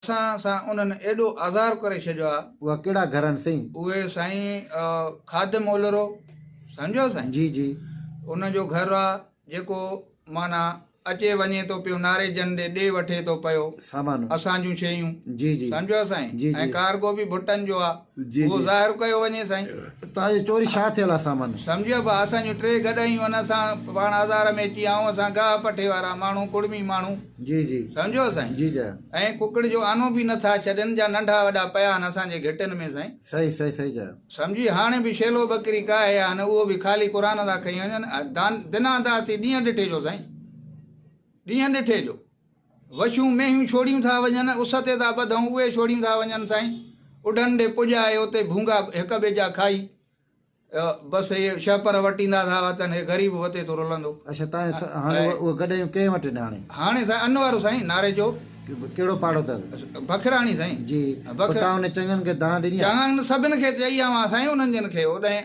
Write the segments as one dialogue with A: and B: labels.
A: اسان سان انهن ايڏو آزار ڪري ڇڏيو آ. اها ڪهڙا گهر آهن سائين؟
B: اهي سائين
A: خادم اولرو سمجهيو سائين. جي جي.
B: ان جو گهر
A: آ جيڪو معنيٰ اچي وڃي ٿو پيو ناريجن ڏي ڏي وٺي ٿو پيو. سامان. اسان جون
B: شيون.
A: جي جي. سمجهيو
B: سائين. جي جي. ۽
A: ڪارگو به
B: ڀٽن جو
A: آ. اهو ظاهر ڪيو
B: وڃي سائين.
A: اتان جي چوري ڇا
B: ٿيل آ سامان. سمجهيو با اسان جون
A: ٽي گڏهيون ان اسان پاڻ آزار ۾ اچي آئون اسان گاهه پٺي وارا ماڻهو ڪڙمي ماڻهو جي جي سمجهيو
B: سائين جي جي
A: ۽ ڪڪڙ
B: جو آنو
A: به نه ٿا ڇڏين جا ننڍا وڏا پيا آهن اسان جي گهٽين ۾ سائين صحيح صحيح صحيح جي
B: سمجهي هاڻي به
A: شيلو ٻڪري ڪاهي آهن اهو به خالي قرآن ٿا کئي وڃن دان دنا داس ٿي ڏينهن ڏٺي جو سائين ڏينهن ڏٺي جو وشون مينهيون ڇوڙيون ٿا وڃن، اس تي ٿا ٻڌئون، اهي ڇوڙيون ٿا وڃن سائين، اڍن ڏي پڄ آهي، اتي ڀونگا هڪ ٻئي جا کائي، بس هي شهپر وٽيندا ٿا وتن، هي غريب وتي ٿو رلندو. اڇا تاهي
B: هاڻي اهي گڏهيون ڪنهن وٽ آهن هاڻي؟ هاڻي سائين ان وارو سائين
A: ناري چوڪ. ڪهڙو پاڙو
B: اٿس؟ بکراڻي سائين. جي،
A: پوء تان هن
B: چڱن کي دانهن ڏني آهي؟ چڱن سڀن کي چئي
A: آئون آ سائين انهن جن کي اوڏانهن.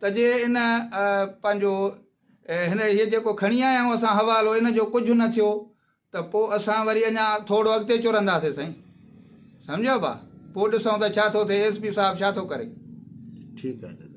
A: ته جي ان پنهنجو هن هيء جيڪو کڻي آيا آهيون اسان حوالو ان جو ڪجهه نه ٿيو ته پوء اسان وري اڃا ٿورو اڳتي چرنداسين سائين سمجهيو ڀا پوء
B: ڏسون
A: ته ڇا ٿو ٿئي ايس پي صاحب ڇا ٿو ڪري. ٺيڪ آهي دادا.